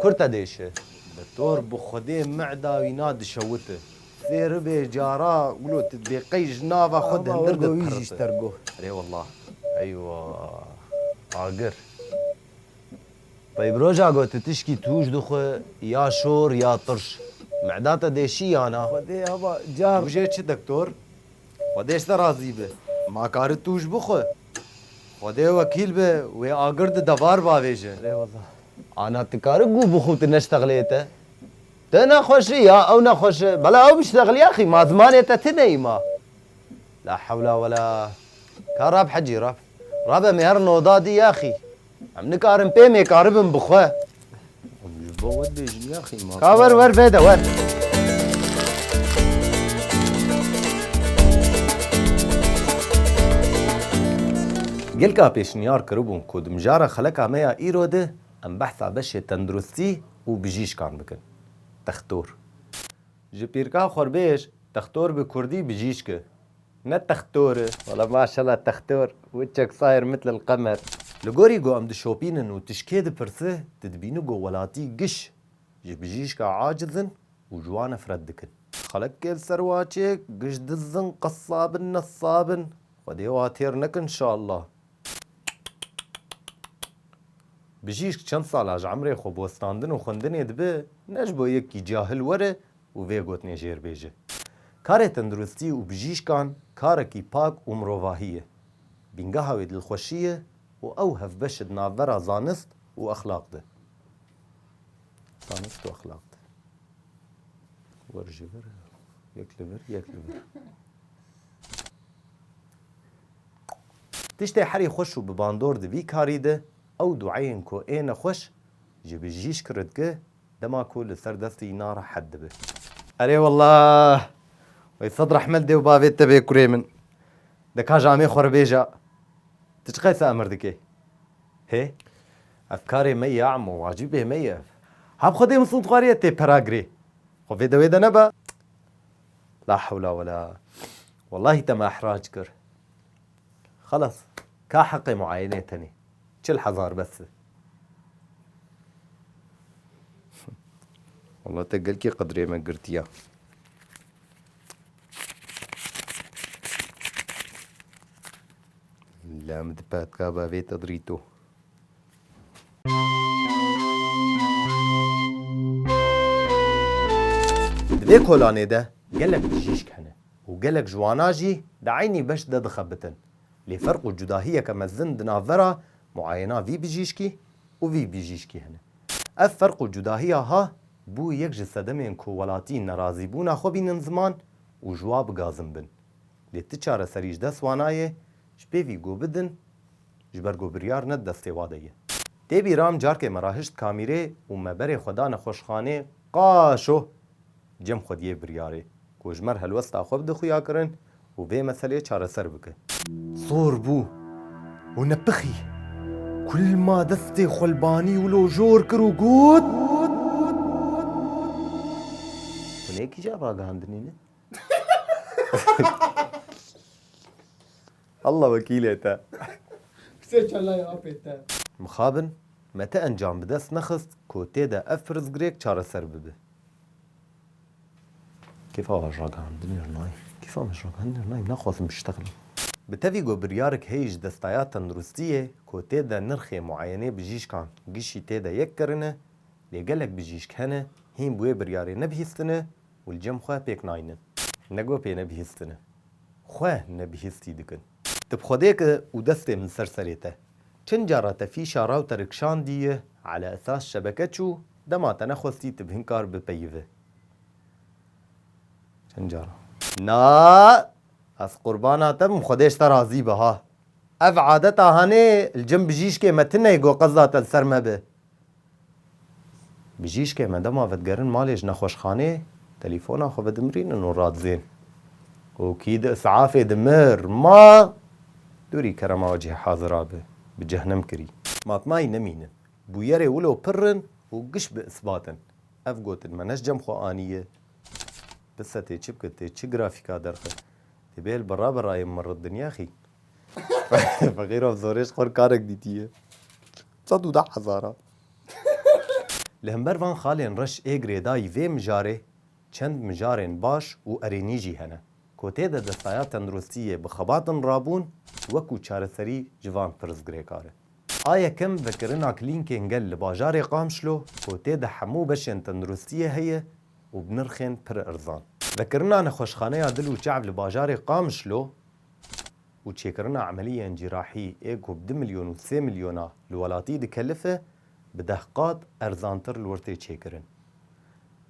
Kur te dêşi. Bi tor bi xwedê meda wî na dişewiti. Fêr bê cara gulo ti dê qey ji nava xwe dindir de piriti. Rê wela. Eywa. Agir. Qey bi roja go ti tişkî tûj dixwe ya şor ya tirş. Meda te dêşî ya na. Xwedê haba car. Tûjê çi dektor? Xwedê ji te razî bi. Ma kari tûj bixwe. Xwedê wekîl be wê agir di devar bavêje. Rê wela. Ana ti kari gû bi xû ti neştexleyê te? Te nexweşi ya ew nexweş e. Bela ew biştexliya xî ma zimanê te ti neyî ma. La hewla wela. Ka rab hecî rab. Rabe mêr noda dî ya xî. Em nikarin pê mêkaribin bi xwe. Em ji bo we dibêjin yaxî ma. Ka wer wer vêde wer. Gelka pêşniyar kiribû ku di mijara xeleka me ya îro de em behsa beşê tenduristî û bijîşkan bikin. Dextor. Ji pîrka xwe bêj, dextor bi kurdî bijîşk e. Ne textor e. Wala maşallah textor wicek sayr mitl el qemer. Li gorî ku em dişopînin û tu ji kê dipirsi, tu dibînî ku welatî giş ji bijîşka aciz in û ji wan nefret dikin. Xelekê li ser waçê giş diz in, qesab in, nesab in. Xwedê wan têr neke inşallah. Bijîşk çend sala ji emrê xwe bi westandin û xwendinê dibe, ne ji bo yekî cahil were û vê gotinê jêr bêje, Karê tenduristî û bijîşkan karekî pak û mirovahî ye. Bîngeha wê dilxweşî ye û ew hevbeş e di navbera zanist û exlaq de. Zanist û exlaq de. Vir ji vir, yek li vir, yek li vir. Tiştê herî xweş û bi bandor di vî karî de ew dueyên ku ê nexweş ji bijîşk re dike Dema ku li ser destê îna rehet dibe. Erê walla wey sed rehmet dêw bavê te bê kurê min. De ka ji amê xwe re bêja tu çi qese emir dikê? Hê? Ev karê me ye emo wacîbê me ye ev. Hab xwedê min sûntxwariye tê pera girê. Xwe vê dewê de neba. La hewla wela. Wellahî te me ehrac kir. Xelas ka heqê muayenê tenê çil hezar bes be. Walla te gelkî qedrê me girtiya. La min dipetka ba vê te dirîto. Di vê kolanê de gelek bijîşk hene. Û gelek ji wana jî di eynî beş de dixebitin. Lê ferq û cudahiyeke mezin di navbera muayena vî bijîşkî û vî bijîşkî hene. Ev ferq û cudahiya ha bû yek ji sedemên ku welatî nerazîbûna xwe bînin ziman û ji wa bigazin bin. Lê ti çareserî ji dest wa nayê, ji pêvî go bidin ji ber ku biryar ne di destê wa de ye. Tê bîra em carkê me rahişt kamîrê û me berê xwe da nexweşxanê Qaşo! Cem xwediyê biryarê ku ji mer helwesta xwe bide xuya kirin û vê meseleyê çareser bike. Zor bû û nepixî ku lma destê xwe li banî wilo jor kir û got. Hûn ê kîjan ragihandinî ne? Allah wekîlê te. Pisê kellayê apê te. Mixabin me ti encam bi dest nexist ku tê de ev pirsgirêk çareser bibe. Kêfa me ragihandinê re nayê. Kêfa me ji ragihandinê re nayê. Naxwazim bi şitex bim. Bi tevî got biryarek heye ji destaya tenduristiyê ku tê de nirxê muayenê bijîşkan gişî tê de yek kirine, lê gelek bijîşk hene hîn bi wê biryarê nebihîstine û li cem xwe pêk naynin. Ne got pê nebihîstine. Xwe ne bihîstî dikin. Ti bi Xwedê ke û destê min ser serê te. Çend cara te fîşa ra û te rikşandiye, ala esas şebeke çû, dema te nexwestî ti bi hin kar bipeyive. Çend cara. Na! Ez qurbana te bim Xwedê ji te razî be ha. Ev adeta hanê li cem bijîşkê me tune ye ku qezda te li ser me be. Bijîşkê me dema vedigerin malê ji nexweşxanê, telîfona xwe vedimrînin û radizên. Û kî di isafê dimir, ma dûrî kerema we cihê hazira bi, bi cehnem kirî. Matmayî nemînin. Bûyerê wilo pirr in û giş bi isbat in. Ev gotin me ne ji cem xwe anîye. Bi setê çi bike, tê çi grafîka derxe. Tê bêl bi ra bi rayê mirr dinya xîn. Feqîr of zorê ji xwe re karek dîtîye. Sed û deh hezaran. Li hember van xalên reş ê girêdayî vê mijarê çend mijarên baş û erênî jî hene ku tê de destaya tenduristiyê bi xebatin rabûn wekû çareserî ji van pirsgirêkar e. A yekem vekirina klînkên gel li bajarê Qamişlo ku tê de hemû beşên tenduristiyê heye û bi nirxên pir erzan. Vekirina nexweşxaneya dil û çav li bajarê Qamişlo. û çêkirina emeliyên cîrahî ê ku bi du milyon û sê milyona li welatî dikelife bi deh qat erzantir li wir tê çêkirin.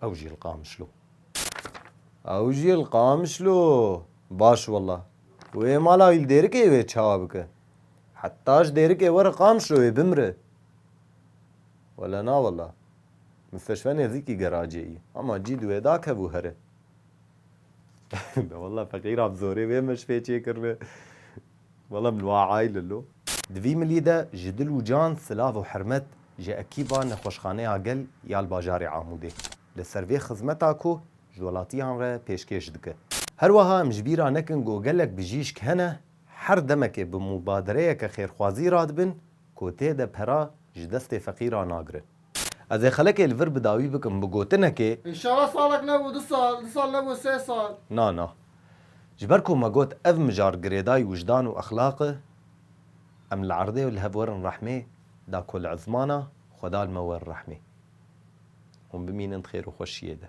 Ew jî li Qamişlo. Ew jî li Qamişlo! Baş wela. Wê mala wî li Dêrikê wê çawa bike? Heta ji Dêrikê were Qamişlo wê bimire. Wele na wela. Misteşfe nêzîkî geracê yî. Hema cî di wê de kevû here. Na wela feqîra bi zorê vê meşxê çêkirine. Wela min wa ayl illo. Di vî milî de ji dil û can silav û hirmet ji ekîba Nexweşxaneya Gel ya li bajarê Amûdê li ser vê xizmeta ku ji welatiyan re pêşkêş dike. Her weha em ji bîr a nekin ku gelek bijîşk hene her demekê bi mûbadereyeke xêrxwazî radibin ku tê de pera ji destê feqîran nagirin. Ez ê xelekê li vir bi dawî bikim bi gotinekê. Înşala salek nebû du sal, du sal nebû sê sal. Na na. Ji ber ku me got ev mijar girêdayî wijdan û exlaq e, em li erdê li hev werin rehmê da ku li ezmana xwe da li me werin rehmê. Hûn bimînin di xêr û xweşiyê de.